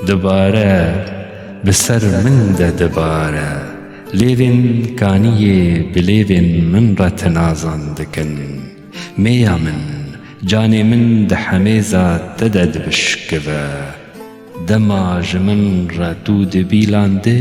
Dibare bi ser min de dibare lêvên kaniyê bi lêvên min re tinazan dikin mêya min canê min di hemêza te de dibişkive dema ji min re tu dibîlandî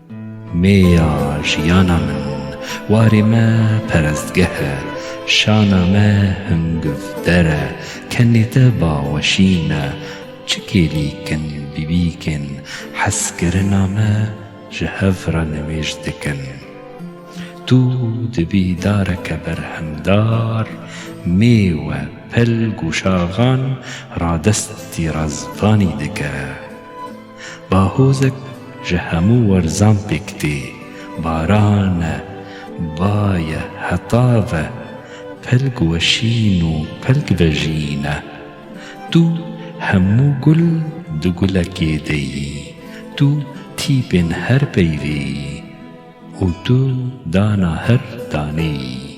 Me ya jiyana min, warê me perestgeh e, şana me hingivder e, kenê te baweşîn e, çi kêlîk in bîbîk ên hezkirina me ji hev re nimêj dikin. Tu dibî dareke berhemdar, mêwe, pelg û şaxan radestî razvanî dike. Bahozek ji hemû werzan pêk tê, baran e, ba ye, heta ve, pelg weşîn û pelg vejîn e. Tu hemû gul di gulekê de yî, tu tîpên her peyvê yî û tu dana her danê yî.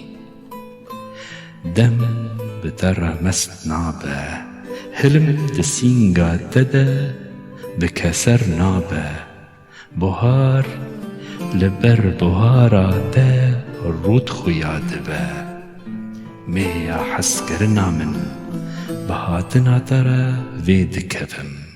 Dem bi te re mest nabe, hilm di sînga te de bi keser nabe. Buhar li ber buhara te rût xuya dibe. Mêya hezkirina min bi hatina te re vê dikevim.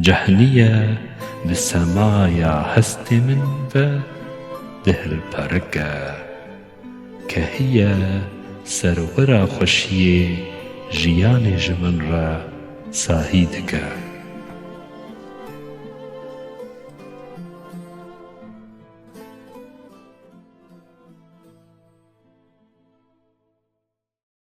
Cehniye di semaya hestê min ve dihilperike. Kehiye ser wira xweşiyê jiyanê ji min re sahî dike.